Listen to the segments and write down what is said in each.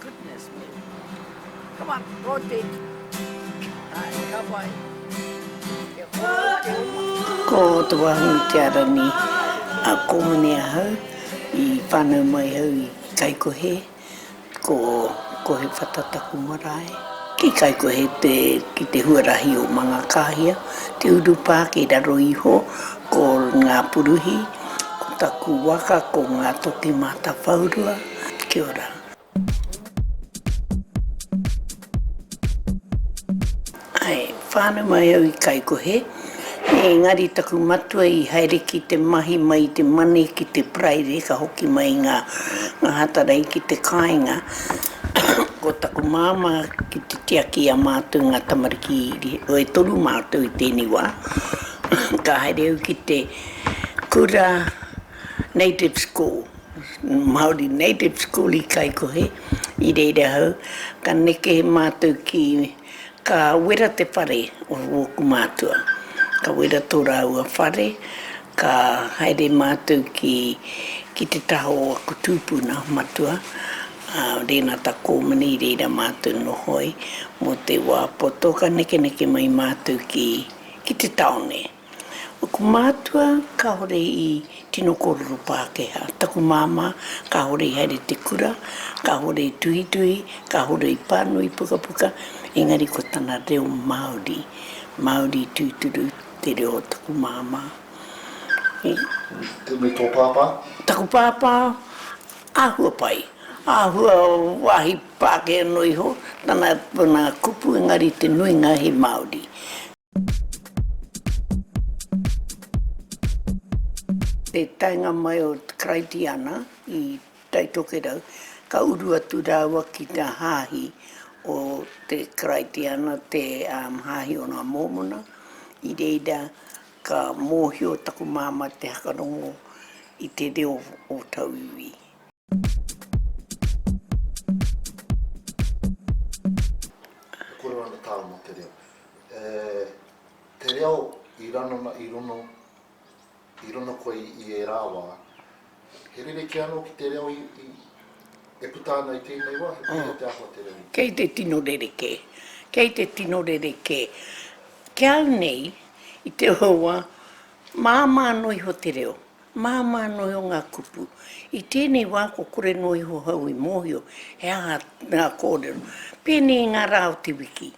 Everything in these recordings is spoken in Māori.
Goodness me. Come on, go on Beck. Ai, ka pai. Kia koutou koutou. Ko te wāhi i te ara nei a Kōmone ahau i whānau mai au i Kaikohe ko Kohe Whata taku marae. Ki Kaikohe te ki te huarahi o Mangakāhia te urupā kei raro iho ko Ngāpuruhi ko taku waka ko Ngātoki Mātāwhaurua. Kia ora. Ae, whānau mai au i Kaikohe, engari taku matua i haere ki te mahi mai i te mane ki te Paraire ka hoki mai i ngā Ngāhatarai ki te kāinga, ko taku māmā ki te tiaki i a mātou ngā tamariki e toru mātou i tēnei wā, ka haere au ki te kura Native School. Māori Native School i Kaikohe, i reira ahau, ka neke mātou ki, ka wera te whare o wōku mātua. Ka wera tō rāua whare, ka haere mātou ki, ki te taha o aku tūpuna matua, a Rēnata Kōmani, i reira mātou noho ai, mō te wā poto ka nekeneke mai mātou ki, ki te taone. Aku mātua kāore i tino kōrero Pākehā. Taku māmā kāore i haere te kura, kāore i tuhituhi, kāore i pānui pukapuka, engari ko tana reo Māori, Māori tūturu te reo o taku māmā. Me, me tō pāpā? Taku pāpā, āhua pai, āhua wāhi Pākehā noa iho tana, tana kupu engari te nuinga he Māori. Te taenga mai o Karaitiana i Taitokerau, ka uru atu rāua ki te hāhi o te Karaitiana, te hāhi o ngā Mōmona. I reira ka mōhio taku māmā te whakarongo i te reo o tauiwi. E kore ana tāu mō te reo? E te reo i ranona i rono, i rono koe i ērā wā, he rerekē anō ki te reo i, e puta ana i tēnei wā, he pai a te āhua te reo i. Kei te tino rerekē, kei te tino rerekē. Ki au nei, i te hoa, māmā noa iho te reo. Māmā noa iho ngā kupu. I tēnei wā kua kore noa iho hou i mōhio he aha ngā kōrero. Pēnei i ngā rā o te wiki.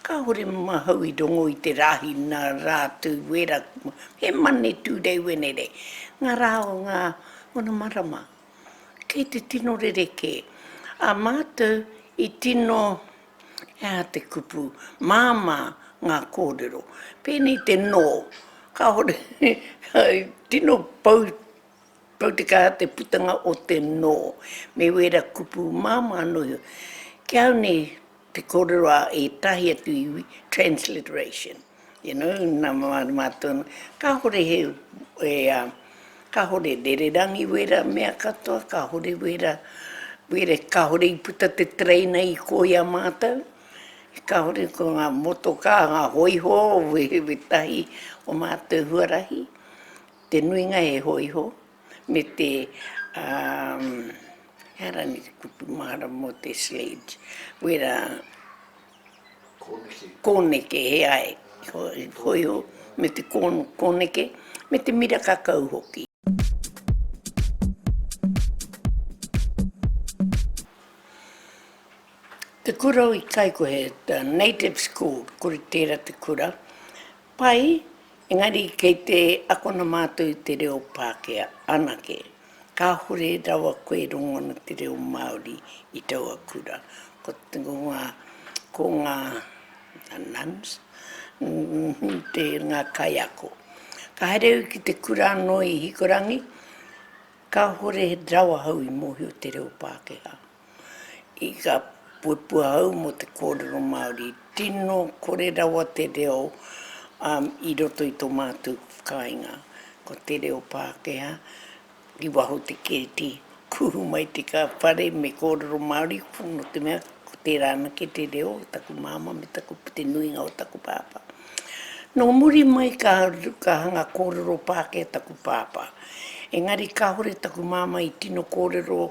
Kāore mahau i rongo i te rāhi nā Rātou wērā kumua. He Monday, Tuesday, Wednesday. Ngā rā o ngā Onamarama. Kei te tino rerekē. A mātou i tino. He aha te kupu? Māmā ngā kōrero. Pēnei te nō. Kāore he tino pou, pou te kaha te putanga o te nō. Me wēra kupu māmā anō ia. Ki au nei, te kōrero a ētahi atu iwi, transliteration. You know, nā mārama atu ana, kāore he, e, kāore rererangi wērā mea katoa, kāore wērā, wērā, kāore i puta te tereina i kō i a mātou, kāore ko ngā motokā, ngā hōiho, wēwē tahi o mātou huarahi, te nuinga he hōiho, me te, umm, he aha rānei te kupu mahara mō te sledge, wērā. Kōneke he ai, hōiho me te kōneke, me te mira kakau hoki. Te kura o Ikaiko he native school, kore tērā te kura, pai, engari kei te akona mātou i te reo Pākehā anake. Kāhore rawa koe e rongo ana te reo Māori i taua kura. Ko ngā, ko ngā nuns, te, ngā kaiako. Ka haere au ki te kura anō i Hikurangi, kāhore rawa au i mōhio te reo Pākehā. I ka puapua au mō te kōrero Māori, tino kore rawa te reo i roto i tō mātou whakaaenga. Ko te reo Pākehā, i waho te kēti, kuhu mai te whare me kōrero Māori, nō te mea, ko tērā anake te reo o taku māmā me taku, te nuinga o taku pāpā. Nō muri mai ka hanga kōrero Pākehā taku pāpā, engari kāore taku māmā i tino kōrero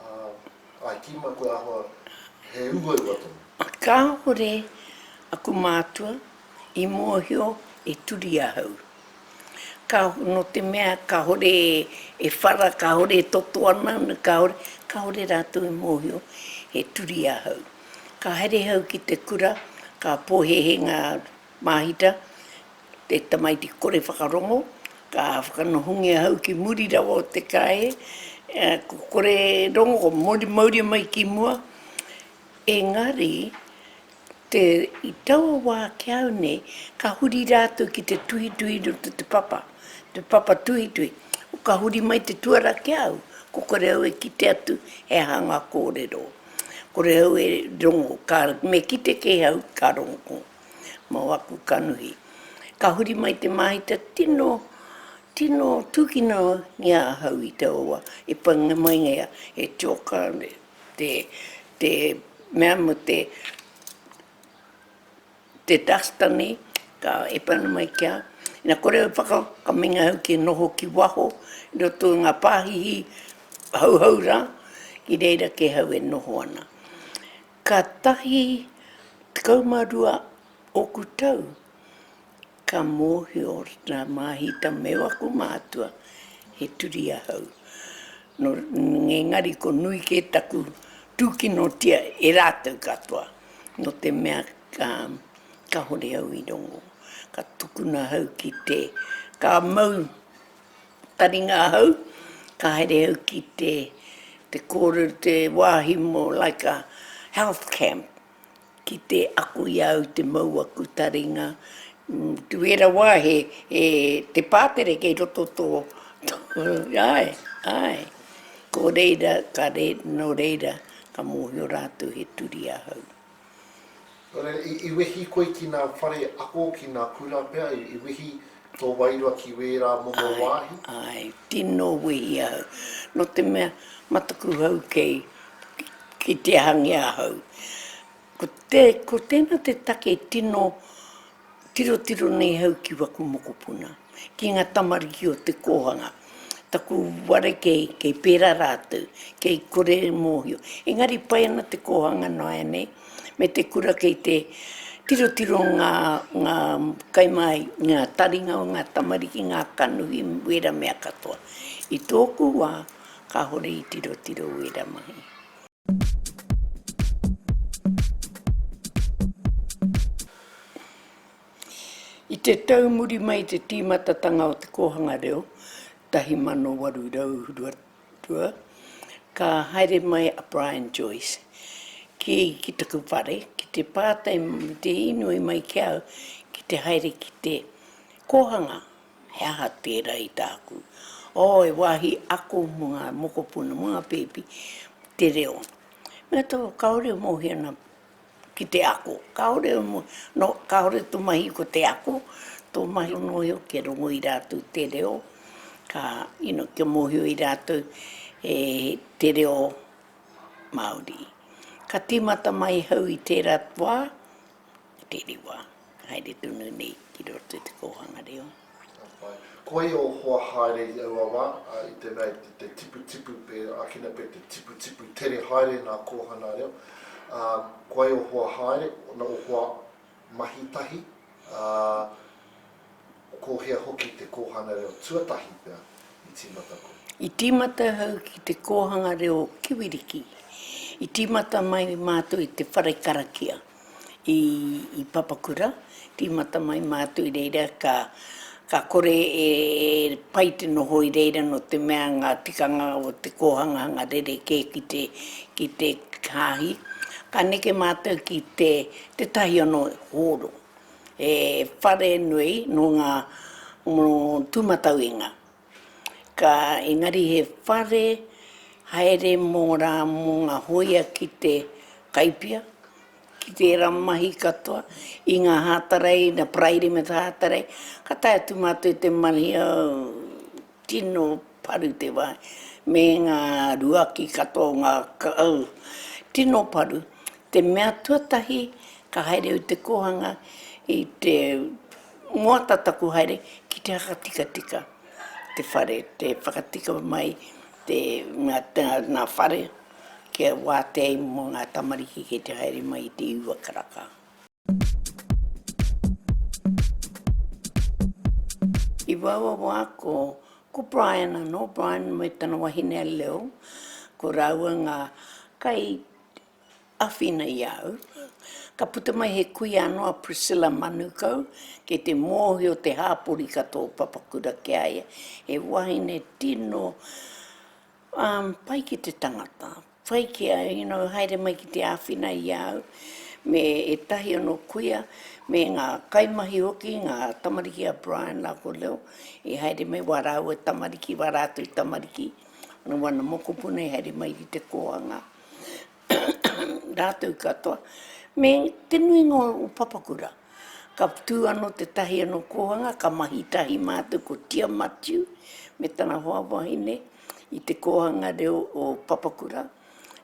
Ā, I tīma kua āhua he uaua tonu. Kāore aku mātua i mōhio e turi ahau. Ka, nō te mea kāore e whara, kāore e toto ana, kāore, kāore rātou i mōhio he turi ahau. Ka haere ahau ki te kura, ka pōhēhē ngā māhita, te tamaiti kore whakarongo, ka whakanohongia hau ki muri rawa o te karaehe, ko kore rongo, ko mori mauria mai ki mua, engari, te, i taua wā ki au nei, ka huri rātou ki te tuhituhi i roto i te papa, te papa tuhituhi, ka huri mai te tuara ki au, ko kore au e kite atu he aha ngā kōrero, kore au e rongo, ka, me kite kē au, ka rongo. mō aku kanohi. Ka huri mai te māhita tino, tino tūkino i a ahau i te owa, i panga mai ia he tioka te, te mea mo te, te duster nei, ka e pana mai ki a au, na kore au whaka, ka meinga au ki noho ki waho, i roto i nga pāhihi hauhau ra, ki reira kē hau e noho ana. Ka tahi tekau ma rua oku tau, ka mōhio rā māhita me waku mātua he turi ahau. Nō, engari ko nui kē taku tūkinotia e rātou katoa, nō te mea ka, kāore au i rongo. Ka tukuna ahau ki te, ka mau. Taringa ahau, ka haere au ki te, te kōrero, te wāhi mō, like a health camp, ki te ako i a au te mau aku taringa, to where a wire he, he, te pātere kei roto tō, tō, āe, āe. Ko reira, ka re, nō reira, ka mōhio rātou he turi ahau. I wehi koe ki nā whare ako, ki nā kura pea, i wehi tō wairua ki wērā momo wāhi? Āe, āe, tino wehi au, no te mea, mataku hau kei, ki te hangi ahau. Ko te, ko tēnā te take tino, Tirotiro nei hau ki waku mokopuna, ki nga tamariki o te kohanga, taku ware kei, kei pera ratou, kei kore e mohio. Engari pai ana te kohanga noaenei me te kura kei te tirotiro nga, nga kai mai, nga taringa o nga tamariki, nga kanohi, wera mea katoa. I toku wa, kahore i tirotiro wera mahi. I te tau muri mai i te tīmatatanga o te kōhanga reo 1822, ka haere mai a Brian Joyce ki, ki taku whare, ki te pātai, te inoi mai ki au ki te haere ki te kōhanga. He aha tērā i tāku? Oh, he wāhi ako mō ngā mokopuna, mō ngā pēpi, te reo. Mea tau, kāore e mōhio ana ki te ako. Kāore, nō, kāore tō mahi ko te ako, tō mahi ko mōhio kia rongo i rātou te reo, ka, you know, kia mōhio i rātou e te reo Māori. Ka tīmata mai hau i tērā wā. i tēnei wā, haere tonu nei ki roto i te kōhanga reo. Ka pai. Ko ia o hoa haere i aua wā, ā, i te mea i te tiputipu pē, ākina pē te tiputipu tere haere ngā kōhanga reo, ā, ko ia o hoa haere, o hoa mahi tahi, ā, Ko hea hoki te kōhanga reo tuatahi pea i tīmata koe? I tīmata au ki te kōhanga reo Kiwiriki. I tīmata mai mātou i te whare karakia i Papakura. Tīmata mai mātou i reira ka kore e pai te noho i reira nō te mea ngā tikanga o te kōhangahanga rerekē ki te hāhi. Ka neke mātou ki tētahi anō hōro. He whare nui nō ngā tūmatauenga. Ka engari he whare haere mō rā mō ngā hōia ki te kaipia, ki tērā mahi katoa, i ngā hātarei, ngā paraire me te hātarei, ka tae atu mātou i te mahi o. Tino paru te wai, me nga ruaki katoa o nga kakau. Tino paru, te mea tuatahi ka haere au i te kohanga i te moata taku haere ki te hakatikatika te whare, te whakatika mai te nga whare kia watea ai mo nga tamariki kei te haere mai i te iwa karaka. I wawawā ko, ko Brian anō, Brian me tana wahine a Lil, ko rāua ngā kai āwhina i a au. Ka puta mai he kuia anō a Priscilla Manukau, kei te mōhio te hāpori ka tō papakura ki a ia, he wahine tino pai ki te tangata, Whai ki a Hino haere mai ki te āwhina i a au me ētahi anō kuia, me ngā kaimahi hoki, ngā tamariki a Brian rā ko Leo, i haere mai, wā rāua tamariki, wā rātou tamariki, nō wana mokopuna i haere mai ki te kōhanga, rātou katoa, me te nuinga o Papakura. Ka tū anō tētahi anō kōhanga, ka mahi tahi mātou ko Tia Matiu me tana hoa wahine i te kōhanga reo o Papakura.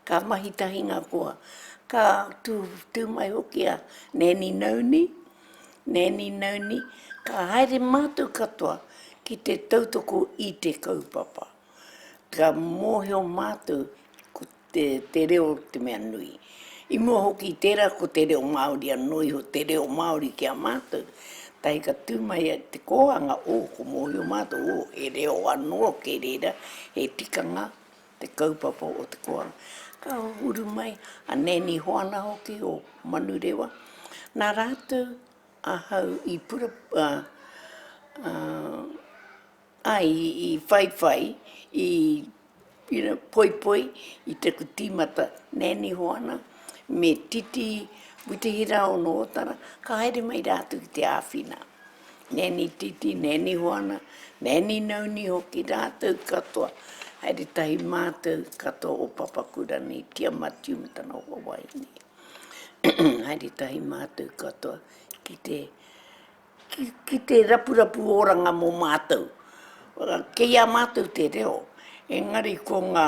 Ka mahi tahi ngā koa. Ka tū, tū mai hoki a Nanny Nauni, Nanny Nauni, ka haere mātou katoa ki te tautoko i te kaupapa. Ka mōhio mātou ko te te reo te mea nui. I mua hoki i tērā ko te reo Māori anō iho te reo Māori ki a mātou, tae ka tū mai te kōhanga o ko mōhio mātou o he reo anō kei reira, he tikanga te kaupapa o te kōhanga. Ka uru mai a Nanny Hoana hoki o Manurewa, nā rātou ahau i pura, ā, ā, Ai, i whaiwhai, i you know, poipoi i te kutimata, Nanny Hoana me Titi Witihiraonootara, ka haere mai rātou ki te āwhina. Nanny Titi, Nanny Hoana, Nanny Nauni hoki, rātou katoa, haere tahi mātou katoa o Papakura nei, Tia Matiu me tana hoa wāhine. Haere tahi mātou katoa ki te... ki te rapurapu oranga mō mātou. Kei a mātou te reo, engari ko ngā,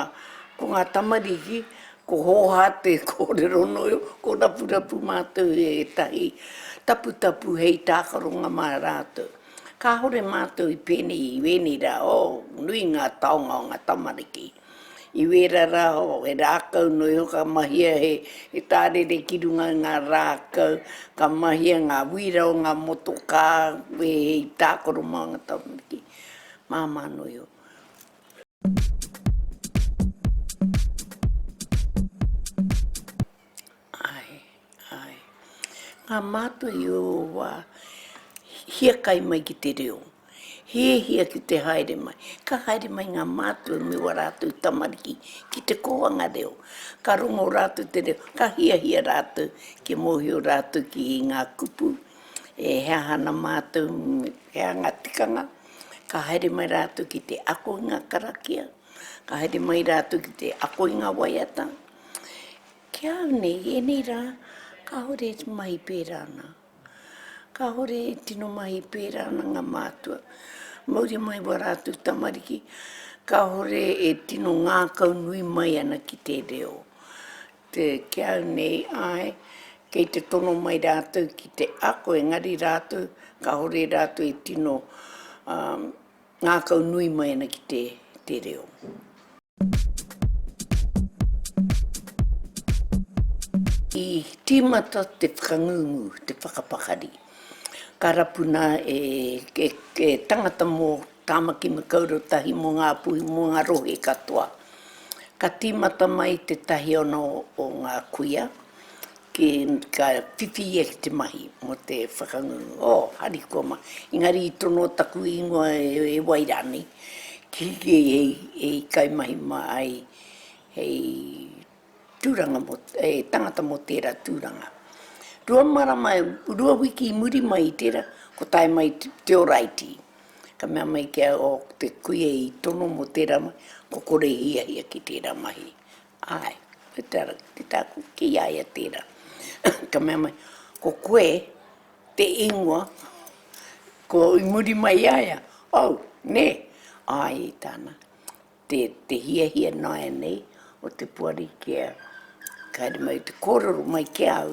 ko ngā tamariki, ko hōhā te kōrero nō, ko rapurapu mātou e ētahi taputapu hei tākaronga mā rātou. Kāore mātou i pēnei i ēnei rā, oh, nui ngā taonga o ngā tamariki. I wēra rā o, he rākau nō iho ka mahia he tārere ki runga i ngā rākau, ka mahia ngā wīra o ngā motokā, wēhei tākaro mā ngā tamariki, māmā nō iho. Ae, ae. Ngā mātua i ō wā, hiakai mai ki te reo. Hiahia ki te haere mai. Ka haere mai ngā mātua me wā rātou tamariki ki te kōhanga reo. Ka rongo rātou te reo, ka hiahia rātou kia mōhio rātou ki ngā kupu, e he aha ana mātou, he aha ngā tikanga. Ka haere mai rātou ki te ako i ngā karakia, ka haere mai rātou ki te ako i ngā waiata. Ki a au nei, i ēnei rā, kāore e mahi pērā ana. Kāore e tino mahi pērā ana ngā mātua. Mauri mai wā rātou tamariki, kāore e tino ngākau nui mai ana ki te reo. Te, ki a au nei, āe, kei te tono mai rātou ki te ako, engari rātou, kāore rātou e tino, ā, Ngākau nui mai ana ki te, te reo. I tīmata te whakangungu, te whakapakari. Ka rapu nā e, e, e tangata mō Tāmaki Makaurau tahi mō ngā puhi, mō ngā rohe katoa. Ka tīmata mai tētahi ona o, o ngā kuia, Ki, ka whiwhi ia ki te mahi mo te whakangungu. Oh, harikoa ma. Engari i tono taku ingoa e wai ranei, ki hiki hei kaimahi ma ai hei turanga mo, hei tangata mo tera turanga. Rua marama, rua wiki i muri mai i tera, ko tae mai te oraiti. Ka mea mai kia, oh, te kuia i tono mo tera mahi, ko kore hiahia ki tera mahi. Āe, me te ara ki te tāku ki a ia tērā. Ka mea mai, Ko koe te ingoa, ko i muri mai i a ia, Au, nē? Āe, i tāna, te, te hiahia nāianei o te Poari kia haere mai te kōrero mai ki a au,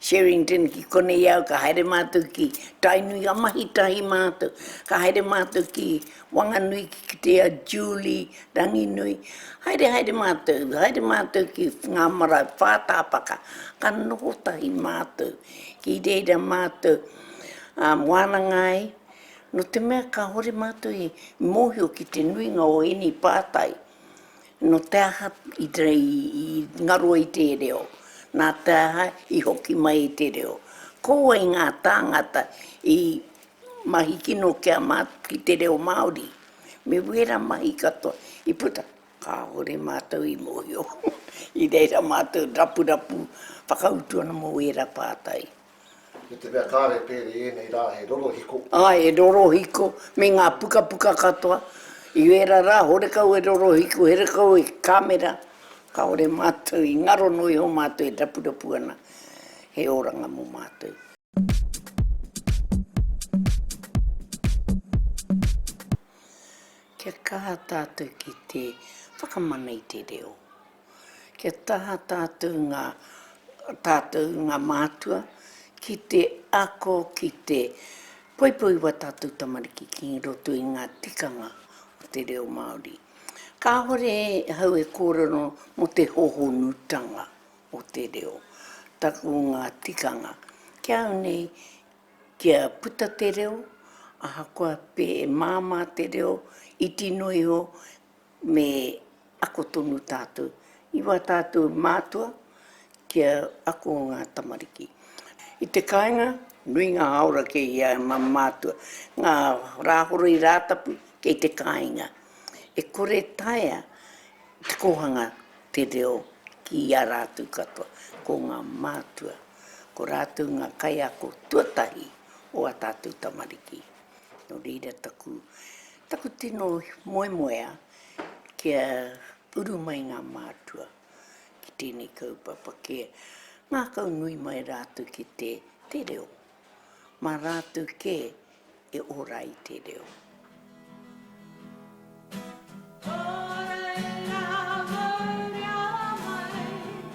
Sherrington ki konei au ka haere mātou ki Tainui ka mahi tahi mātou ka haere mātou ki Wanganui ki kite a Julie Ranginui haere haere mātou haere mātou ki ngā marae whātāpaka ka noho tahi mātou ki reira mātou a wānanga ai no te mea kahore mātou i mōhio ki te nuinga o ēnei pātai. Nō te aha i ngaro i te reo, nā te aha i hoki mai i te reo. Ko wai ngā tāngata i mahi kino ki te reo Māori? Me wērā mahi katoa i puta, kāore mātou i mōhio i reira mātou rapurapu whakautu ana mō wērā pātai. I te mea kāre pērē ēnei rā he rorohiko. Āe, he rorohiko me ngā pukapuka katoa. I ērā rā, horekau e rorohiko, horekau e kāmera, kāore mātou i ngaro noa iho mātou e rapurapu ana he oranga mō mātou. Kia kaha tātou ki te whakamana i te reo. Kia taha tātou ngā, tātou ngā mātua ki te ako, ki te poipoi wā tātou tamariki ki roto i ngā tikanga o te reo Māori. Kāore ahau e kōrero mō te hohonutanga o te reo, taku ngā tikanga. Ki a au nei, kia puta te reo, ahakoa pē e māmā te reo, iti noa iho, Me ako tonu tātou i wā tātou mātua kia ako ngā tamariki. I te kāinga, nui ngā hāora kei ia e mā mātua. Ngā Rāhoroi Rātapu kei te kāinga. E kore e taea te kōhanga te reo ki a rātou katoa. Ko ngā mātua, ko rātou ngā kaiako tuatahi o ā tātou tamariki. Nō reira taku Taku tino moemoea kia uru mai ngā mātua ki tēnei kaupapa, kia ngākau nui mai rātou ki te te reo, mā rātou kē e ora ai te reo.